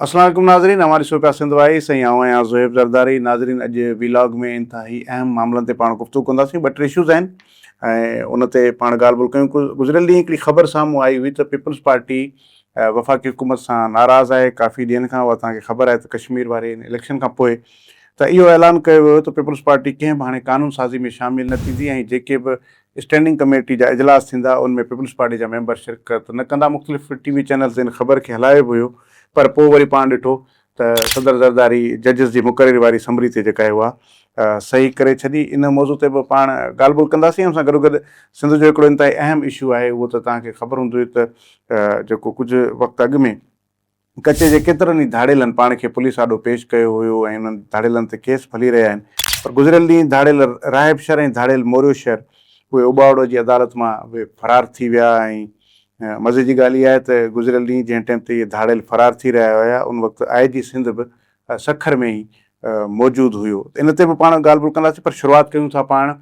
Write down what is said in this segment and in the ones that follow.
السلام عليڪم ناظرين اوهان ڏسو پيا سنڌ وائي سائين آئون آهيان زوهيب زرداري ناظرين اڄ وي لاگ ۾ انتهائي اهم معاملن تي پاڻ گفتگو ڪنداسين ٻه ٽي اشوز آهن ۽ ان تي پاڻ ڳالهه ٻولهه ڪيون گذريل ڏينهن هڪڙي خبر سامهون آئي هئي ته پيپلز پارٽي وفاقي حڪومت سان ناراض آهي ڪافي ڏينهن کان اها توهان کي خبر آهي ته ڪشمير واري ان اليڪشن کان پوء ته اهو اعلان ڪيو ويو ته پيپلز پارٽي ڪنهن به هاڻي قانون سازي ۾ شامل نه ٿيندي ۽ جيڪي به اسٽينڊنگ ڪميٽي جا اجلاس ٿيندا ان ۾ پيپلز پارٽي جا ميمبر شرڪت نه ڪندا مختلف ٽي وي چينل تي ان خبر کي هلايو به هيو پر پوء وري پاڻ ڏٺو ته صدر زرداري ججز جي مقرري واري اسمبلي تي جيڪا اها صحيح ڪري ڇڏي ان موضوع تي به پاڻ ڳالهه ٻولهه ڪنداسين ان سان گڏوگڏ سنڌ جو هڪڙو انتهائي اهم اشو آهي اهو ته توهان کي خبر هوندي ته جيڪو ڪجهه وقت اڳ ۾ ڪچي جي ڪيترن ئي ڌاڙيلن پاڻ کي پوليس آڏو پيش ڪيو هيو ۽ انهن ڌاڙيلن تي ڪيس به هلي رهيا آهن پر گذريل ڏينهن ڌاڙيل راهب شر ۽ ڌاڙيل موريو شر اهي اوٻاوڙو جي عدالت مان به فرار ٿي ويا ۽ مزي جي ڳالهه اها آهي ته گذريل ڏينهن جنهن ٽئم تي اهي ڌاڙيل فرار ٿي رهيا هيا ان وقت آء جي سنڌ به سکر ۾ ئي موجود هيو ته ان تي به پاڻ ڳالهه ٻولهه ڪنداسين پر شروعات ڪيون ٿا پاڻ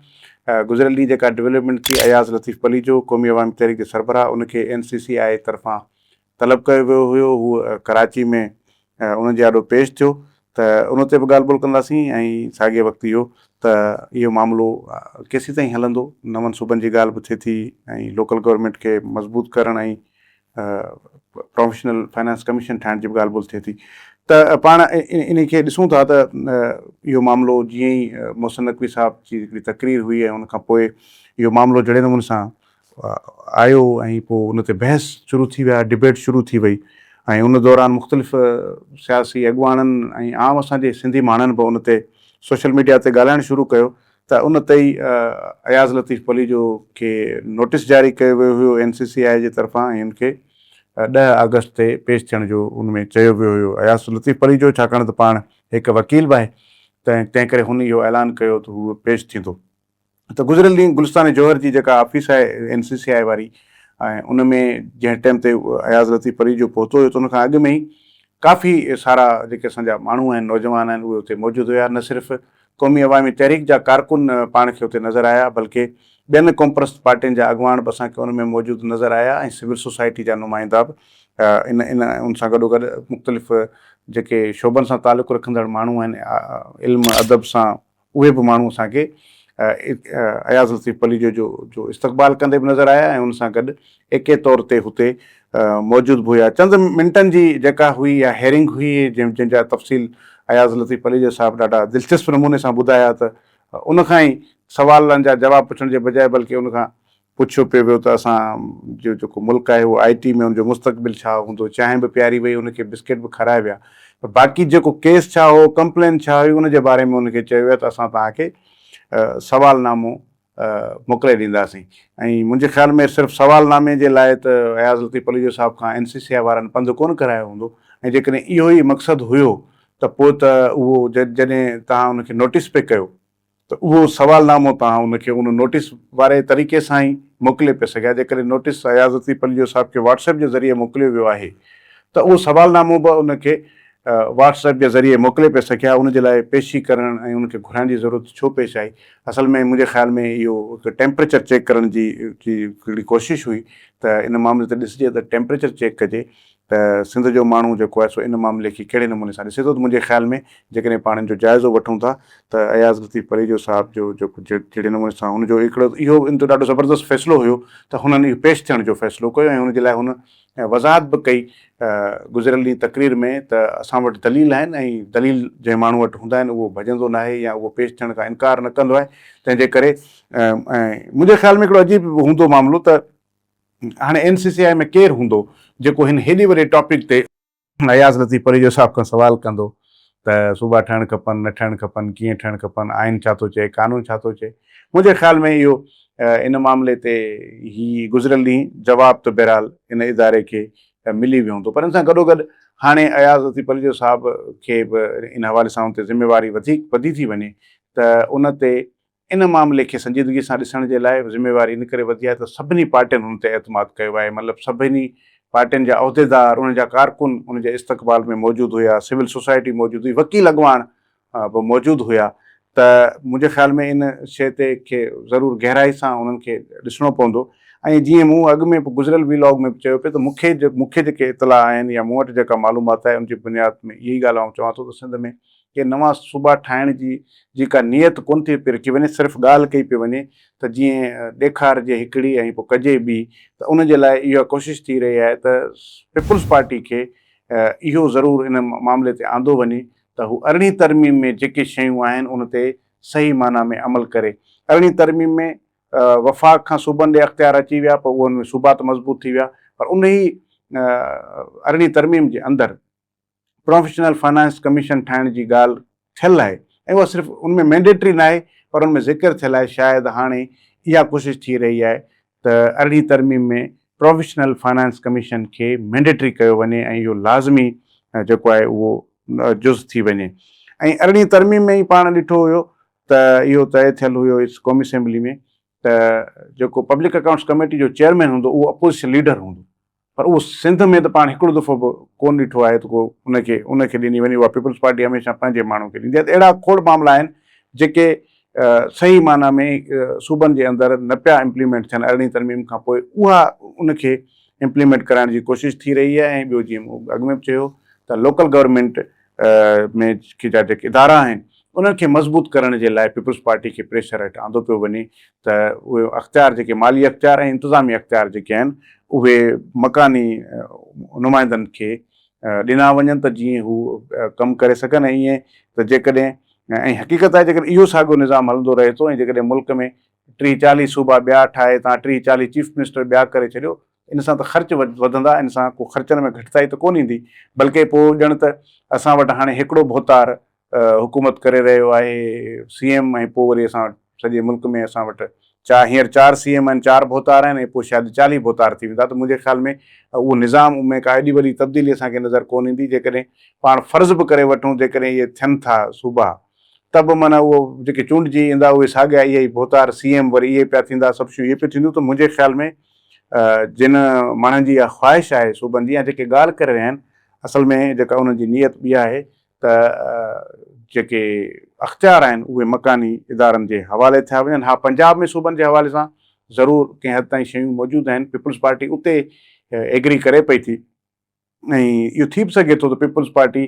گذريل ڏينهن جيڪا ڊولپمينٽ ٿي اياز لطيف پليجو قومي عوامي تحريڪ جي سربراهه ان کي اين سي سي آء طرفان طلب ڪيو ويو هيو هو ڪراچي ۾ انهن جي آڏو پيش ٿيو ته ان تي به ڳالهه ٻولهه ڪنداسين ۽ ساڳئي وقت اهو ته اهو معاملو ڪيسين تائين هلندو نون صوبن جي ڳالهه به ٿئي ٿي ۽ لوڪل گورنمينٽ کي مضبوط ڪرڻ ۽ پروفيشنل فنانس ڪميشن ٺاهڻ جي به ڳالهه ٻولهه ٿئي ٿي ته پاڻ انهي کي ڏسون ٿا ته اهو معاملو جيئن ئي محسن نقوي صاحب جي هڪڙي تقرير هئي ۽ ان کان پوء اهو معاملو جهڙي نموني سان آيو ۽ پوء ان تي بحث شروع ٿي ويا، ڊبيٽ شروع ٿي وئي ۽ ان دوران مختلف سياسي اڳواڻن ۽ عام اسان جي سنڌي ماڻهن به ان تي سوشل ميڊيا تي ڳالهائڻ شروع ڪيو ته ان تي ئي اياز لطيف پليجو کي نوٽيس جاري ڪيو ويو هيو اين سي سي آء جي طرفان ۽ ان کي ڏهه آگسٽ تي پيش ٿيڻ جو ان ۾ چيو ويو هيو اياز لطيف پليجو ڇاڪاڻ ته پاڻ هڪ وڪيل به آهي تنهن ڪري هن اهو اعلان ڪيو ته هو پيش ٿيندو. ته گذريل ڏينهن گلستان جوهر جي جيڪا آفيس آهي اين سي سي آء واري ۽ ان ۾ جنهن ٽيم تي اياز لطيف پريجو پهتو هيو ته ان کان اڳ ۾ ئي ڪافي سارا جيڪي اسان جا ماڻهو آهن نوجوان آهن اهي اتي موجود هيا نه صرف قومي عوامي تحريڪ جا ڪارڪن پاڻ کي اتي نظر آيا بلڪه ٻين قومپرست پارٽين جا اڳواڻ به اسان کي ان ۾ موجود نظر آيا ۽ سول سوسائٽي جا نمائندا به ان ان ان سان گڏوگڏ مختلف جيڪي شعبن سان تعلق رکندڙ ماڻهو آهن علم ادب سان اهي به ماڻهو اسان کي اياز لطيف پليجو جو استقبال ڪندي به نظر آيا ۽ ان سان گڏ ايڪي طور تي هتي موجود به هيا. چند منٽن جي جيڪا هئي اها هيئرنگ هئي جنهن جا تفصيل اياز لطيف پليجو صاحب ڏاڍا دلچسپ نموني سان ٻڌايا ته ان کان ئي سوالن جا جواب پڇڻ جي بجاء بلڪه ان کان پڇيو پيو ويو ته اسان جو جيڪو ملڪ آهي اهو آئي ٽي ۾ ان جو مستقبل ڇا هوندو، چانهه به پياري وئي ان کي بسڪيٽ به کارائي ويا پر باقي جيڪو ڪيس ڇا هو ڪمپلين ڇا هئي ان جي باري ۾ ان کي چيو ويو ته اسان توهان کي سوال نامو موڪلي ڏينداسين ۽ منهنجي خيال ۾ صرف سوال نامي جي لاء ته اياز لطيف پليجو صاحب کان اين سي سي آئي وارن پنڌ ڪونه ڪرايو هوندو ۽ جيڪڏهن اهو ئي مقصد هيو ته پوء ته اهو جڏهن توهان ان کي نوٽيس پئي ڪيو ته اهو سوال نامو توهان ان کي ان نوٽيس واري طريقي سان ئي موڪلي پئي سگهيا، جيڪڏهن نوٽيس ايازتي پليجو صاحب کي واٽس ايپ جي ذريعي موڪليو ويو آهي ته اهو سوال نامو به ان کي واٽس ايپ جي ذريعي موڪلي پئي سگهيا، ان جي لاء پيشي ڪرڻ ۽ ان کي گهرائڻ جي ضرورت ڇو پيش آئي؟ اصل ۾ منهنجي خيال ۾ اهو هڪ ٽيمپريچر چيڪ ڪرڻ جي هڪڙي ڪوشش هئي ته ان معاملي تي ڏسجي ته ٽيمپريچر چيڪ ڪجي ته سنڌ جو ماڻهو جيڪو آهي سو ان معاملي کي ڪهڙي نموني سان ڏسي ٿو ته منهنجي خيال ۾ جيڪڏهن پاڻ ان جو جائزو وٺون ٿا ته اياز لطيف پريجو صاحب جو جيڪو جهڙي نموني سان هن جو هڪڙو اهو ان جو ڏاڍو زبردست فيصلو هيو ته هنن اهو پيش ٿيڻ جو فيصلو ڪيو ۽ ان جي لاء هن وضاحت به ڪئي گذريل ڏينهن تقرير ۾ ته اسان وٽ دليل آهن ۽ دليل جنهن ماڻهو وٽ هوندا آهن اهو ڀڄندو ناهي يا اهو پيش ٿيڻ کان انڪار نه ڪندو آهي تنهن جي ڪري ۽ منهنجي خيال ۾ هڪڙو عجيب هوندو معاملو ته هاڻي اين سي سي آء ۾ ڪير هوندو جيڪو هن هيڏي وڏي ٽاپڪ تي اياز لطيف پريجو صاحب کان سوال ڪندو ته صوبا ٺهڻ کپن نه ٺهڻ کپن ڪيئن ٺهڻ کپن آئين ڇا ٿو چئي قانون ڇا ٿو چئي منهنجي خيال ۾ اهو ان معاملي تي هي گذريل ڏينهن جواب ته بهرحال ان اداري کي ملي ويو هوندو پر ان سان گڏو گڏ هاڻي اياز لطيف پريجو صاحب کي به ان حوالي سان ان تي ذميواري وڌيڪ وڌي ٿي وڃي ته ان تي ان معاملي کي سنجيدگي سان ڏسڻ جي لاء ذميواري ان ڪري وڌي آهي ته سڀني پارٽين هن تي اعتماد ڪيو آهي، مطلب سڀني پارٽين جا عهديدار، انهن جا ڪارڪن ان جي استقبال ۾ موجود هيا، سول سوسائٽي موجود هئي، وڪيل اڳواڻ به موجود هيا ته منهنجي خيال ۾ ان شيء تي کي ضرور گهرائي سان انهن کي ڏسڻو پوندو ۽ جيئن مون اڳ ۾ به گذريل وي لاگ ۾ به چيو پئي ته مون کي مون کي جيڪي اطلاع آهن يا مون وٽ جيڪا معلومات آهي ان جي بنياد ۾ اهي ئي ڳالهه آئون چوان ٿو ته سنڌ ۾ ڪي نوان صوبا ٺاهڻ جي جي ڪا نيت ڪونه ٿي پئي رکي وڃي صرف ڳالهه ڪئي پئي وڃي ته جيئن ڏيکارجي هڪڙي ۽ پوء ڪجي ٻي ته ان جي لاء اها ڪوشش ٿي رهي آهي ته پيپلز پارٽي کي اهو ضرور ان معاملي تي آندو وڃي ته هو ارڙهين ترميم ۾ جيڪي شيون آهن ان تي صحيح معنيٰ ۾ عمل ڪري ارڙهين ترميم ۾ وفاق کان صوبن ڏي اختيار اچي ويا پوء انهن ۾ صوبا ته مضبوط ٿي ويا پر انهي ارڙهين ترميم جي اندر پروفيشنل فنانس ڪميشن ٺاهڻ جي ڳالهه ٿيل آهي ۽ اها صرف ان ۾ مينڊيٽري ناهي پر ان ۾ ذڪر ٿيل آهي شايد هاڻي اها ڪوشش ٿي رهي آهي ته ارڙهين ترميم ۾ پروفيشنل فنانس ڪميشن کي مينڊيٽري ڪيو وڃي ۽ اهو لازمي جيڪو آهي اهو جز ٿي وڃي ۽ ارڙهين ترميم ۾ ئي پاڻ ڏٺو هيو ته اهو طئي ٿيل هيو اس قومي اسيمبلي ۾ ته جيڪو پبلڪ اڪائونٽس ڪميٽي جو چيئرمين هوندو اهو اپوزيشن ليڊر هوندو پر اهو سنڌ ۾ ته پاڻ هڪڙو دفعو به ڪونه ڏٺو آهي ته ڪو ان کي ان کي ڏني وڃي. اها پيپلز پارٽي هميشه پنهنجي ماڻهو کي ڏيندي آهي ته اهڙا کوڙ معاملا آهن جيڪي صحيح معنيٰ ۾ صوبن جي اندر نه پيا امپليمينٽ ٿين ارڙهين ترميم کان پوء اها ان کي امپليمينٽ ڪرائڻ جي ڪوشش ٿي رهي آهي ۽ ٻيو جيئن مون اڳ ۾ به چيو ته لوڪل گورنمينٽ ۾ جا جيڪي ادارا آهن انهن کي مضبوط ڪرڻ جي لاء پيپلز پارٽي کي پريشر هيٺ آندو پيو وڃي ته اهي اختيار جيڪي مالي اختيار ۽ انتظامي اختيار جيڪي آهن اهي مڪاني نمائندن کي ڏنا وڃن ته جيئن هو ڪم ڪري سگهن ۽ ائين ته جيڪڏهن ۽ حقيقت آهي جيڪڏهن اهو ساڳيو نظام هلندو رهي ٿو ۽ جيڪڏهن ملڪ ۾ ٽيهه چاليهه صوبا ٻيا ٺاهي تان ٽيهه چاليهه چيف منسٽر ٻيا ڪري ڇڏيو ان سان ته خرچ وڌندا، ان سان ڪو خرچن ۾ گهٽتائي ته ڪونه ايندي، بلڪه پوء ڄڻ ته اسان وٽ هاڻي هيڪڙو ڀوتار حڪومت ڪري رهيو آهي، سي ايم ۽ پوء وري اسان وٽ سڄي ملڪ ۾ اسان وٽ چار هينئر چار سي ايم آهن، چار ڀوتار آهن ۽ پوء شايد چاليهه ڀوتار ٿي ويندا ته منهنجي خيال ۾ اهو نظام ۾ ڪا ايڏي وڏي تبديلي اسان کي نظر ڪونه ايندي، جيڪڏهن پاڻ فرض به ڪري وٺون جيڪڏهن اهي ٿين ٿا صوبا ته به معنيٰ اهو جيڪي چونڊجي ايندا اهي ساڳيا اهي ئي ڀوتار سي ايم وري اهي پيا ٿيندا سڀ شيون اهي پيون ٿينديون ته منهنجي خيال ۾ جن ماڻهن جي اها خواهش آهي صوبن جي يا جيڪي ڳالهه ڪري رهيا آهن اصل ۾ جيڪا انهن جي نيت ٻي آهي ته جيڪي اختيار آهن اهي مڪاني ادارن جي حوالي ٿيا وڃن ها پنجاب ۾ صوبن جي حوالي سان ضرور ڪنهن حد تائين شيون موجود آهن پيپلز پارٽي اتي ايگري ڪري پئي ٿي ۽ اهو ٿي به سگهي ٿو ته پيپلز پارٽي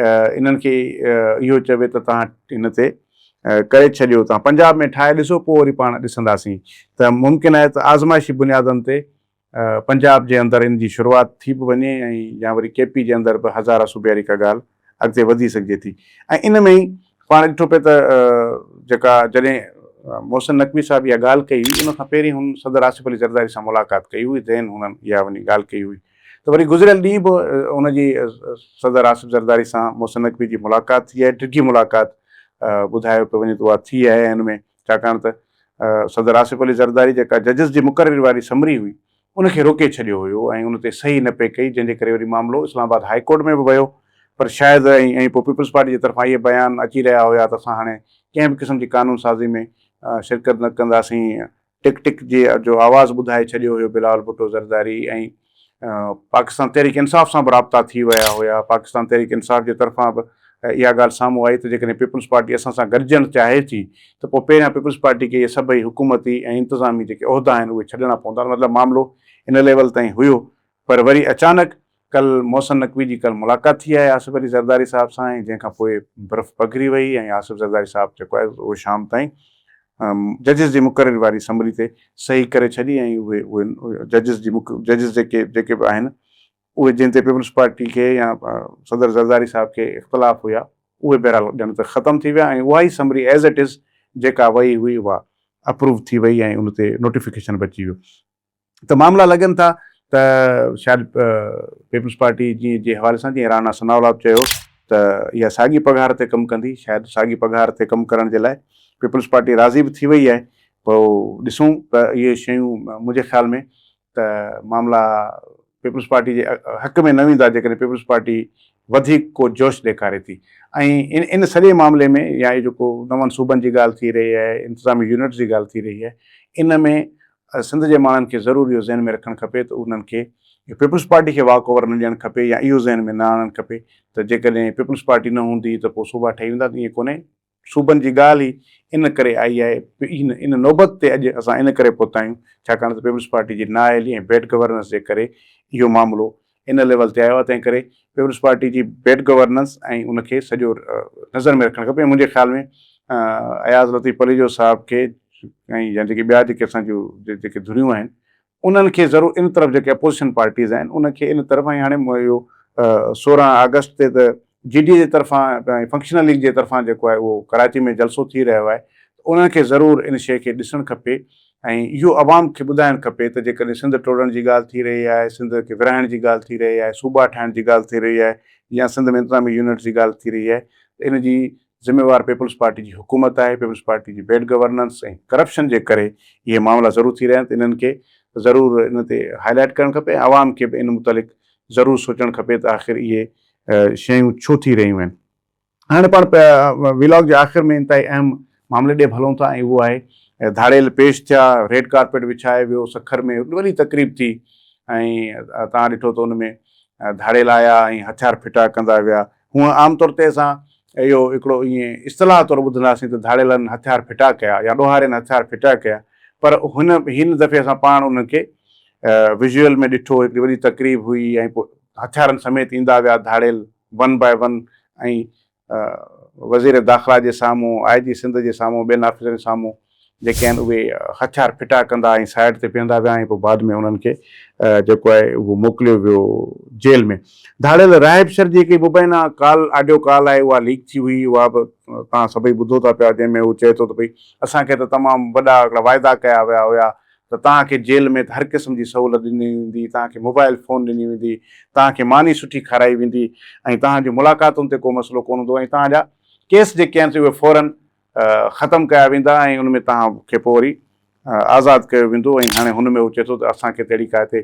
انهن کي اهو چوي ته توهان هن تي ڪري ڇڏيو توهان پنجاب ۾ ٺاهي ڏسو پوء وري پاڻ ڏسنداسين ته ممڪن آهي ته آزمائشي بنيادن تي پنجاب جي اندر ان جي شروعات ٿي به وڃي ۽ يا وري ڪي پي جي اندر به هزاره صوبياري ڪا ڳالهه اڳتي وڌي سگهجي ٿي ۽ ان ۾ ئي پاڻ ڏٺو پئي ته جيڪا جڏهن محسن نقوي صاحب اها ڳالهه ڪئي هئي ان کان پهرين هن صدر آصف علي زرداري سان ملاقات ڪئي هئي ذهن هن اها وڃي ڳالهه ڪئي هئي ته وري گذريل ڏينهن به ان جي صدر آصف زرداري سان محسن نقوي جي ملاقات ٿي آهي ڊگهي ملاقات ٻڌايو پيو وڃي ته اها ٿي آهي ان ۾ ڇاڪاڻ ته صدر آصف علي زرداري جيڪا ججز جي مقرري واري سمري هئي ان کي روڪي ڇڏيو هيو ۽ ان تي صحيح نه پئي ڪئي جنهن جي ڪري وري معاملو اسلام آباد هاء ڪورٽ ۾ به ويو پر شايد ۽ ۽ پوء پيپلز پارٽي جي طرفان اهي بيان اچي رهيا هيا ته اسان هاڻي ڪنهن به قسم جي قانون سازي ۾ شرڪت نه ڪنداسين ٽڪ ٽڪ جي جو آواز ٻڌائي ڇڏيو هيو بلاول ڀٽو زرداري ۽ پاڪستان تحريڪ انصاف سان به رابطا ٿي ويا هيا پاڪستان تحريڪ انصاف جي طرفان به اها ڳالهه سامهون آئي ته جيڪڏهن پيپلز پارٽي اسان سان گڏجڻ چاهي ٿي ته پوء پهريان پيپلز پارٽي کي اهي سڀئي حڪومتي ۽ انتظامي جيڪي عهدا آهن اهي ڇڏڻا پوندا مطلب معاملو ان ليول تائين هيو پر وري اچانڪ ڪل محسن نقوي جي ڪل ملاقات ٿي آهي آصف علي زرداري صاحب سان ۽ جنهن کان پوء برف پگهري وئي ۽ آصف زرداري صاحب جيڪو آهي اهو شام تائين ججز جي مقرري واري اسمبلي تي صحيح ڪري ڇڏي ۽ اهي اهي ججز جي ججز جيڪي جيڪي به آهن اهي جن تي پيپلز پارٽي کي يا صدر زرداري صاحب کي اختلاف هيا اهي بهرحال ڄڻ ته ختم ٿي ويا ۽ اها ئي سمري ايز اٽ از جيڪا وئي هئي اها اپروو ٿي وئي ۽ ان تي نوٽيفڪيشن به اچي ويو ته معاملا لڳن ٿا ته شايد پيپلز پارٽي جي جي حوالي سان جيئن رانا ثناء الله چيو ته اها ساڳي پگهار تي ڪم ڪندي شايد ساڳي پگهار تي ڪم ڪرڻ جي لاء پيپلز پارٽي راضي به ٿي وئي آهي پوء ڏسون ته اهي شيون منهنجي خيال ۾ ته معاملا پيپلز پارٽي جي حق ۾ نه ويندا جيڪڏهن پيپلز پارٽي وڌيڪ ڪو جوش ڏيکاري ٿي ۽ ان سڄي معاملي ۾ يا هي جيڪو نون صوبن جي ڳالهه ٿي رهي آهي انتظامي يونٽس جي ڳالهه ٿي رهي آهي ان ۾ سنڌ جي ماڻهن کي ضرور اهو ذهن ۾ رکڻ کپي ته انهن کي پيپلز پارٽي کي واڪ اوور نه ڏيڻ کپي يا اهو ذهن ۾ نه آڻڻ کپي ته جيڪڏهن پيپلز پارٽي نه هوندي ته پوء صوبا ٺهي ويندا ته ائين ڪونهي صوبن جي ڳالهه ئي ان ڪري آئي آهي، ان نوبت تي اڄ اسان ان ڪري پهتا آهيون، ڇاڪاڻ ته پيپلز پارٽي جي نااهلي ۽ بيڊ گورننس جي ڪري اهو معاملو ان ليول تي آيو آهي، تنهن ڪري پيپلز پارٽي جي بيڊ گورننس ۽ ان کي سڄو نظر ۾ رکڻ کپي ۽ منهنجي خيال ۾ اياز لطيف پليجو صاحب کي ۽ يا جيڪي ٻيا جيڪي اسان جون جيڪي ڌريون آهن انهن کي ضرور ان طرف جيڪي اپوزيشن پارٽيز آهن ان کي ان طرف ۽ هاڻي اهو سورهن آگسٽ تي ته جي ڊي اي جي طرفان فنڪشنل ليگ جي طرفان جيڪو آهي اهو ڪراچي ۾ جلسو ٿي رهيو آهي ته انهن کي ضرور ان شيء کي ڏسڻ کپي ۽ اهو عوام کي ٻڌائڻ کپي ته جيڪڏهن سنڌ ٽوڙڻ جي ڳالهه ٿي رهي آهي سنڌ کي ورهائڻ جي ڳالهه ٿي رهي آهي صوبا ٺاهڻ جي ڳالهه ٿي رهي آهي يا سنڌ ۾ انتظامي يونٽس جي ڳالهه ٿي رهي آهي ته ان جي ذميوار پيپلز پارٽي جي حڪومت آهي، پيپلز پارٽي جي بيڊ گورننس ۽ ڪرپشن جي ڪري اهي معاملا ضرور ٿي رهيا آهن ته انهن کي ضرور ان تي هاء لائيٽ ڪرڻ کپي ۽ عوام کي به ان متعلق ضرور سوچڻ کپي ته آخر اهي شيون ڇو ٿي رهيون آهن. هاڻي پاڻ ويلاگ جي آخر ۾ انتهائي اهم معاملي ڏي به هلون ٿا ۽ اهو آهي ڌاڙيل پيش ٿيا، ريڊ ڪارپيٽ وڇائي ويو، سکر ۾ وڏي تقريب ٿي ۽ توهان ڏٺو ته ان ۾ ڌاڙيل آيا ۽ هٿيار ڦٽا ڪندا ويا ۽ هونئن عام طور تي اسان اهو هڪڙو ائين اصطلاح طور ٻڌنداسين ته ڌاڙيلن هٿيار ڦٽا ڪيا يا ڏوهارين هٿيار ڦٽا ڪيا پر هن هن دفعي اسان پاڻ انهن کي ويزوئل ۾ ڏٺو هڪڙي وڏي تقريب هئي ۽ پوء هٿيارن سميت ايندا ويا ڌاڙيل ون باء ون ۽ وزير داخلا جي سامهون آء جي سنڌ جي سامهون ٻين آفيسرن سامهون جيڪي آهن اهي هٿيار ڦٽا ڪندا ۽ سائيڊ تي بيهندا ويا ۽ پوء بعد ۾ انهن کي جيڪو آهي اهو موڪليو ويو جيل ۾. ڌاڙيل راهب شر جي هڪڙي مبينا ڪال آڊيو ڪال آهي اها ليڪ ٿي هئي اها به توهان سڀئي ٻڌو ٿا پيا جنهن ۾ هو چئي ٿو ته ڀئي اسان کي ته تمام وڏا هڪڙا واعدا ڪيا ويا هيا ته توهان کي جيل ۾ ته هر قسم جي سهولت ڏني ويندي توهان کي موبائل فون ڏني ويندي توهان کي ماني سٺي کارائي ويندي ۽ توهان جون ملاقاتن تي ڪو مسئلو ڪونه هوندو ۽ توهان جا ڪيس جيڪي آهن سي اهي فورن ختم ڪيا ويندا ۽ ان ۾ توهان کي پوء وري آزاد ڪيو ويندو ۽ هاڻي هن ۾ هو چئي ٿو ته اسان کي ته اهڙي ڪا هتي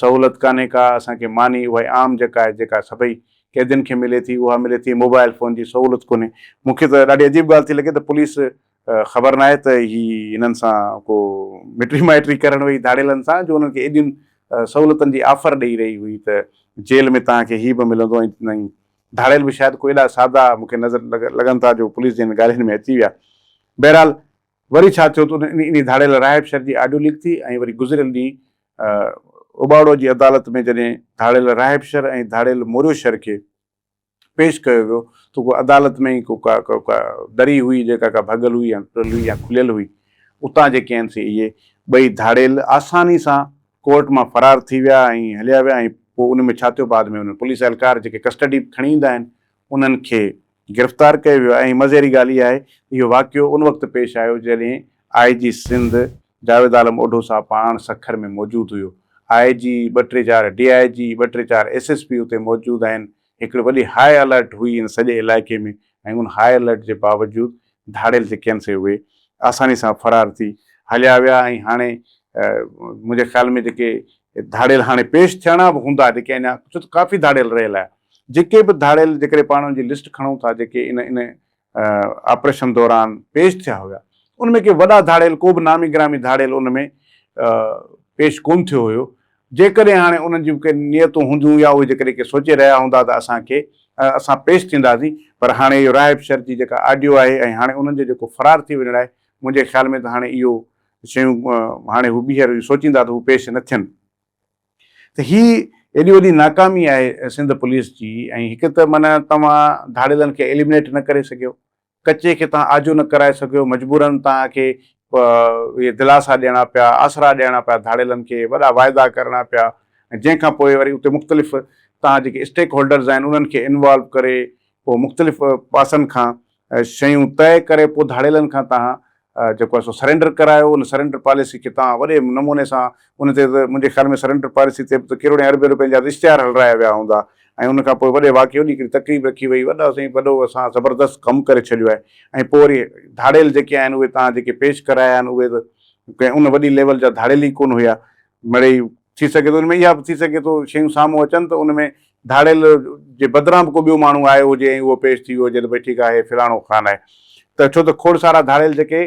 سهولت ڪانهي ڪا اسان کي ماني اهائي عام جيڪا آهي جيڪا سڀئي قيدين کي ملي ٿي اها ملي ٿي موبائل فون جي سهولت ڪونهي مون کي ته ڏاڍي عجيب ڳالهه ٿي لڳي ته پوليس خبر ناهي ته هي هنن سان ڪو مٽي مائٽي ڪرڻ وئي ڌاڙيلن سان جو انهن کي ايڏين سهولتن جي آفر ڏئي رهي هئي ته جيل ۾ توهان کي هي به ملندو ۽ ڌاڙيل به شايد ڪو ايڏا سادا مون کي نظر لڳن ٿا جو پوليس جي هن ڳالهين ۾ اچي ويا. بهرحال وري ڇا ٿيو ته انهي ڌاڙيل راهب شر جي آڊيو ليڪ ٿي ۽ وري گذريل ڏينهن اباڙو جي عدالت ۾ جڏهن ڌاڙيل راهب شر ۽ ڌاڙيل موريو شر کي پيش ڪيو ويو ته ڪو عدالت ۾ ئي ڪو ڪا ڪا دري هئي جيڪا ڪا ڀڳل هئي يا ٽرل هئي يا کليل هئي اتان جيڪي آهن سي اهي ٻئي ڌاڙيل آساني سان ڪورٽ مان فرار ٿي ويا ۽ هليا ويا ۽ پوء ان ۾ ڇا ٿيو بعد ۾ انهن پوليس اهلڪار جيڪي ڪسٽڊي به کڻي ايندا آهن انهن کي گرفتار ڪيو ويو آهي ۽ مزي واري ڳالهه اها آهي ته اهو واقعو ان وقت پيش آيو جڏهن آء جي سنڌ جاويد عالم اوڍو صاحب پاڻ سکر ۾ موجود هيو آء جي ٻه ٽي چار ڊي آء جي ٻه ٽي چار ايس ايس پي اتي موجود آهن هڪڙي وڏي هاء الرٽ هئي ان سڄي علائقي ۾ ۽ ان هاء الرٽ جي باوجود ڌاڙيل جي ڪين سي اهي آساني سان فرار ٿي هليا ويا ۽ هاڻي منهنجي خيال ۾ جيڪي ڌاڙيل هاڻي پيش ٿيڻا به هوندا جيڪي اڃا ڇو ته ڪافي ڌاڙيل رهيل آهي جيڪي به ڌاڙيل جيڪڏهن پاڻ ان جي لسٽ کڻون ٿا جيڪي ان ان آپريشن دوران پيش ٿيا هيا ان ۾ ڪي وڏا ڌاڙيل ڪو به نامي گرامي ڌاڙيل ان ۾ پيش ڪون ٿيو هيو جيڪڏهن هاڻي انهن جون ڪي نيتون هونديون يا اهي جيڪڏهن ڪي سوچي رهيا هوندا ته اسان کي اسان پيش ٿينداسين پر هاڻي اهو راهب شر جي جيڪا آڊيو آهي ۽ هاڻي انهن جو جيڪو فرار ٿي وڃڻ آهي منهنجي خيال ۾ ته هاڻي اهو شيون هاڻي هو ٻيهر سوچيندا ته هو پيش نه ٿين. ته هي ايڏي وڏي ناڪامي آهي سنڌ پوليس جي ۽ هڪ ته معنيٰ توهان ڌاڙيلن کي ايليمنيٽ نه ڪري سگهيو، ڪچي کي توهان آجو نه ڪرائي سگهيو، مجبوراً توهان کي اهي دلاسا ڏيڻا پيا، آسرا ڏيڻا پيا ڌاڙيلن کي، وڏا واعدا ڪرڻا پيا ۽ جنهن کان پوء وري اتي مختلف توهان جيڪي اسٽيڪ هولڊرز آهن انهن کي انوالو ڪري پوء مختلف پاسن کان شيون طئي ڪري پوء ڌاڙيلن کان تهان جيڪو آهي سو سرينڊر ڪرايو ان سرينڊر پاليسي کي تهان وڏي نموني سان ان تي ته منهنجي خيال ۾ سرينڊر پاليسي تي به ته ڪروڙين اربين روپين جا ته اشتهار هلرايا ويا هوندا ۽ ان کان پوء وڏي واقعي وڏي هڪڙي تقريب رکي وئي وڏا سائين وڏو اسان زبردست ڪم ڪري ڇڏيو آهي ۽ پوء وري ڌاڙيل جيڪي آهن اهي تهان جيڪي پيش ڪرايا آهن اهي ته ڪنهن ان وڏي ليول جا ڌاڙيل ئي ڪونه هيا مڙئي ٿي سگهي ٿو ان ۾ اها به ٿي سگهي ٿو شيون سامهون اچن ته ان ۾ ڌاڙيل جي بدران به ڪو ٻيو ماڻهو آيو هجي ۽ اهو پيش ٿي ويو هجي ته ڀئي ٺيڪ آهي هي فلاڻو خان آهي ته ڇو ته کوڙ سارا ڌاڙيل جيڪي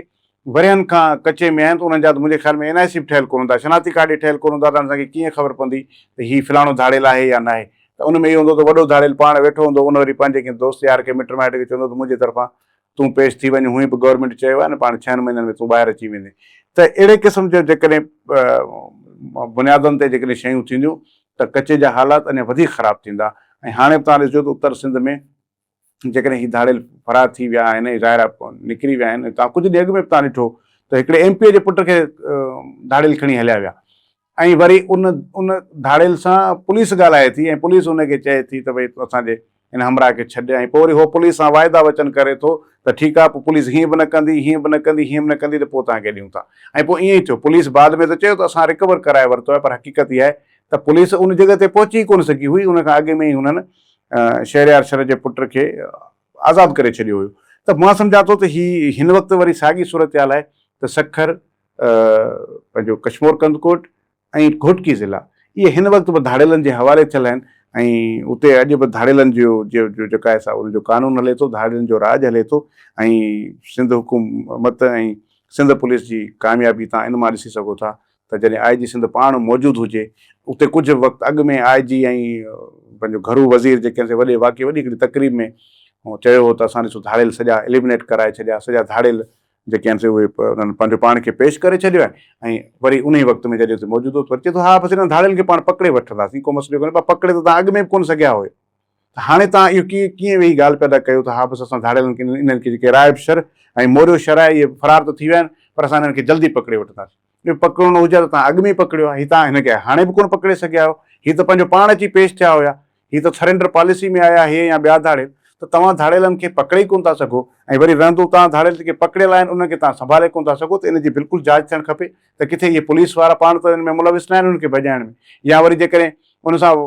ورهين کان ڪچي ۾ آهن ته انهن جا ته منهنجي خيال ۾ اين آء سي به ٺهيل ڪونه هوندا شناختي ڪارڊ ئي ٺهيل ڪونه هوندا ته هاڻي اسان کي ڪيئن خبر پوندي ته هي فلاڻو ڌاڙيل آهي يا ناهي ته ان ۾ اهو هوندو ته وڏو ڌاڙيل پاڻ ويٺو هوندو ان وري پنهنجي ڪنهن دوست يار کي مٽ مائٽ کي چوندو ته منهنجي طرفان تون پيش ٿي وڃ هونئن به گورنمينٽ چيو آهي نه پاڻ ڇهن مهينن ۾ تون ٻاهر اچي ويندين ته اهڙي قسم جو جيڪڏهن بنيادن تي جيڪڏهن شيون ٿينديون ته ڪچي جا حالات اڃا وڌيڪ خراب ٿيندا ۽ هاڻي به توهان ڏسجو ته اتر سنڌ ۾ جيڪڏهن هي ڌاڙيل فرار ٿي ويا آهن ۽ ظاهر آهي نڪري ويا آهن توهان ڪجهه ڏينهن اڳ ۾ به توهان ڏٺو ته هڪڙي ايم پي جي پٽ کي ڌاڙيل کڻي هليا ويا ۽ وري ان ان ڌاڙيل سان پوليس ڳالهائي ٿي ۽ پوليس ان کي چئي ٿي ته ڀئي تون اسان جي ان همراهه کي ڇڏ ۽ پوء وري هو پوليس سان واعدا وچن ڪري ٿو ته ٺيڪ آهي پوء پوليس هيئن به نه ڪندي هيئن به نه ڪندي هيئن به نه ڪندي ته پوء توهان کي ڏيون ٿا ۽ پوء ائين ئي ٿيو پوليس بعد ۾ ته چيو ته اسان رڪور ڪرائي ورتو آهي پر حقيقت اها آهي ته پوليس ان جڳهه تي پهچي ئي ڪونه سگهي هئي ان کان اڳ ۾ ئي هنن شهريار شر جي پٽ کي آزاد ڪري ڇڏيو هيو ته مان سمجهان ٿو ته هي هن وقت وري ساڳي صورتحال آهي ته سکر پنهنجو ڪشمور ڪنڌڪوٽ ۽ گهوٽڪي ضلعا اهي هن وقت به ڌاڙيلن جي حوالي ٿيل آهن ۽ اتي اڄ به ڌاڙيلن جو جيڪا آهي سا ان جو قانون هلي ٿو ڌاڙيلن جو راڄ هلي ٿو ۽ سنڌ حڪومت ۽ سنڌ پوليس جي ڪاميابي تان ان مان ڏسي سگهو ٿا ته جڏهن آء جي سنڌ پاڻ موجود هجي اتي ڪجهه وقت اڳ ۾ آء جي ۽ پنهنجو گهرو وزير جي ڪنهن وڏي واقعي وڏي هڪڙي تقريب ۾ چيو هو ته اسان ڏسو ڌاڙيل سڄا اليمنيٽ ڪرائي ڇڏيا سڄا ڌاڙيل جيڪي آهن سي اهي انهن پنهنجو پاڻ کي پيش ڪري ڇڏيو آهي ۽ وري انهي وقت ۾ جڏهن سي موجود هو ته وري چئي ٿو ها بس انهن ڌاڙيلن کي پاڻ پڪڙي وٺنداسين ڪو مسئلو ڪونهي پر پڪڙي ته توهان اڳ ۾ به ڪونه سگهيا هيو ته هاڻي توهان اهو ڪيئن ڪيئن ويهي ڳالهه پيدا ڪيو ته ها بس اسان ڌاڙيلن کي انهن کي جيڪي رائب شر ۽ موريو شر آهي اهي فرار ته ٿي ويا آهن پر اسان انهن کي جلدي پڪڙي وٺنداسين اهو پڪڙڻو هجي ها ته توهان اڳ ۾ ئي پڪڙيو ها هي توهان هن کي هاڻي به ڪونه پڪڙي سگهيا آهيو هي ته پنهنجو پاڻ اچي پيش ٿيا هيا هي ته سرينڊر پاليسي ۾ آيا هي يا ٻيا ڌاڙيل ته توهان ڌاڙيلن کي پڪڙي ئي ڪونه ٿا سگهو ۽ وري رهندو توهان ڌاڙيل جيڪي پڪڙيل آهن انهن کي توهان سنڀالي ڪونه ٿا سگهو ته ان جي بلڪل جاچ ٿيڻ کپي ته ڪٿي اهي پوليس وارا پاڻ ته ان ۾ ملوث ناهن انهن کي ڀڄائڻ ۾ يا وري جيڪڏهن ان سان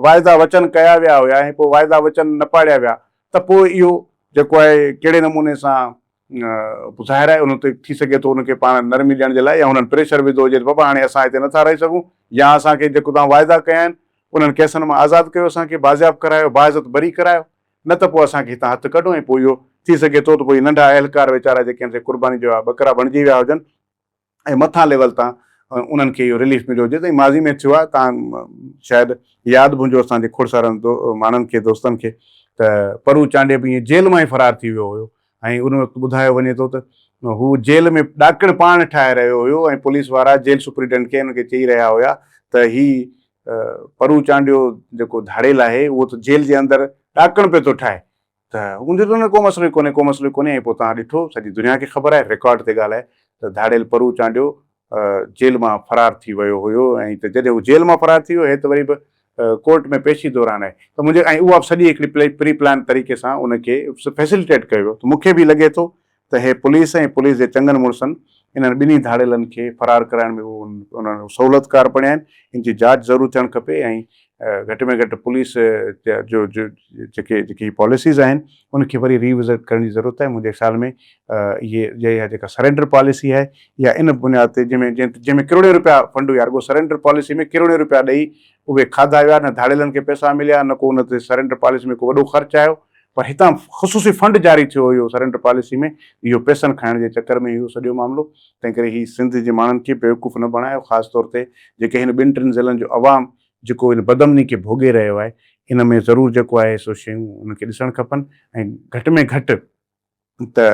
واعدا وچن ڪيا ويا هيا ۽ پوء واعدا وچن نه پاڙيا ويا ته پوء اهو جيڪو آهي ڪهڙي نموني سان ظاهر آهي ان تي ٿي سگهي ٿو ان کي پاڻ نرمي ڏيڻ جي لاء يا هنن پريشر وڌو هجي ته بابا هاڻي اسان هتي نٿا رهي سگهون يا اسان کي جيڪو توهان واعدا ڪيا آهن انهن ڪيسن مان آزاد ڪيو اسان کي بازياب ڪرايو باعزت بري ڪرايو نه ته پوء اسان کي هتان هٿ ڪڍو ۽ پوء اهو ٿي سگهي ٿو ته پوء هي ننڍا اهلڪار ويچارا جيڪي هن تي قرباني جويا ٻڪرا بڻجي ويا هجن ۽ مٿان ليول تان انهن کي اهو رليف مليو جيسين ماضي ۾ ٿيو آهي توهان شايد ياد به هجو اسان جي کڙ سارن ماڻهن کي دوستن کي ته پرو چانڊيو به ائين جيل مان ئي فرار ٿي ويو هيو ۽ ان وقت ٻڌايو وڃي ٿو ته هو جيل ۾ ڏاڪڻ پاڻ ٺاهي رهيو هيو ۽ پوليس وارا جيل سپريڊنٽ کي ان کي چئي رهيا هيا ته هي پرو چانڊيو جيڪو ڌاڙيل آهي اهو ته جيل جي اندر ڏاڪڻ پيو ٿو ٺاهي ته هو چوي ٿو نه ڪو مسئلو ئي ڪونهي ڪو مسئلو ئي ڪونهي ۽ پوء توهان ڏٺو سڄي دنيا کي خبر آهي رڪارڊ تي ڳالهه آهي ته ڌاڙيل پرو چانڊيو جيل مان فرار ٿي ويو هيو ۽ ته جڏهن هو جيل مان فرار ٿي ويو هي ته وري به ڪورٽ ۾ پيشي دوران آهي ته منهنجي ۽ اها به سڄي هڪڙي پري پلان طريقي سان ان کي فيسليٽيٽ ڪيو ويو ته مون کي به لڳي ٿو ته هي پوليس ۽ پوليس جي چڱن مڙسن انهن ٻنهي ڌاڙيلن کي فرار ڪرائڻ ۾ انهن جو سهولتڪار بڻيا آهن، ان جي جاچ ضرور ٿيڻ کپي ۽ گهٽ ۾ گهٽ پوليس جو جيڪي جيڪي هي پاليسيز آهن ان کي وري ري وزٽ ڪرڻ جي ضرورت آهي، منهنجي خيال ۾ اهي جي اها جيڪا سرينڊر پاليسي آهي اها ان بنياد تي جنهن ۾ جنهن ۾ ڪروڙين روپيا فنڊ هيا رڳو سرينڊر پاليسي ۾ ڪروڙين روپيا ڏئي اهي کاڌا ويا نه ڌاڙيلن کي پئسا مليا نه ڪو ان تي سرينڊر پاليسي ۾ ڪو وڏو خرچ آيو پر هتان خصوصي فنڊ جاري ٿيو هيو سرينڊر پاليسي ۾ اهو پيسن کائڻ جي چڪر ۾ هيو سڄو معاملو تنهنڪري هي سنڌ جي ماڻهن کي بيوقوف نه بڻايو خاص طور تي جيڪي هن ٻن ٽن ضلعن جو عوام جيڪو هن بدامني کي ڀوڳي رهيو آهي ان ۾ ضرور جيڪو آهي سو شيون هن کي ڏسڻ کپن ۽ گهٽ ۾ گهٽ ته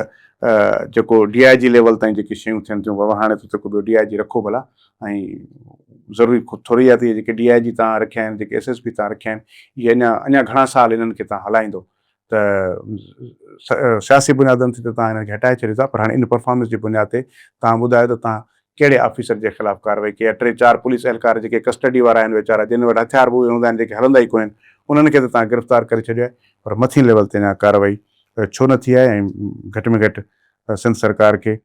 جيڪو ڊي آء جي ليول تائين جيڪي شيون ٿين ٿيون بابا هاڻي ته ڪو ٻيو ڊي آء جي رکو ڀلا ۽ ضروري خود ٿوري آهي ته اهي جيڪي ڊي آء جي تان رکيا آهن جيڪي ايس ايس پي تان رکيا آهن اهي اڃا اڃا گهڻا سال انهن کي تان هلائيندو ته سياسي بنيادن تي ته تان انهن کي هٽائي ڇڏيو ٿا پر هاڻي ان پرفارمنس جي بنياد تي تان ٻڌايو ته تان ڪهڙي آفيسر جي خلاف ڪارروائي ڪئي آهي؟ ٽي چار پوليس اهلڪار جيڪي ڪسٽڊي وارا آهن ويچارا جن وٽ هٿيار به اهي هوندا آهن جيڪي هلندا ئي ڪونهن انهن کي ته توهان گرفتار ڪري ڇڏيو آهي پر مٿين ليول تي اڃا ڪارروائي ڇو نه ٿي آهي ۽ گهٽ ۾ گهٽ سنڌ سرڪار کي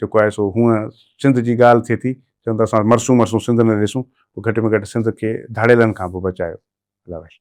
جيڪو آهي سو هونء سنڌ جي ڳالهه ٿئي ٿي چون ٿا اسان مرسون مرسون سنڌ نه ڏسون پوء گهٽ ۾ گهٽ سنڌ کي ڌاڙيلن کان به بچايو الله وحشي.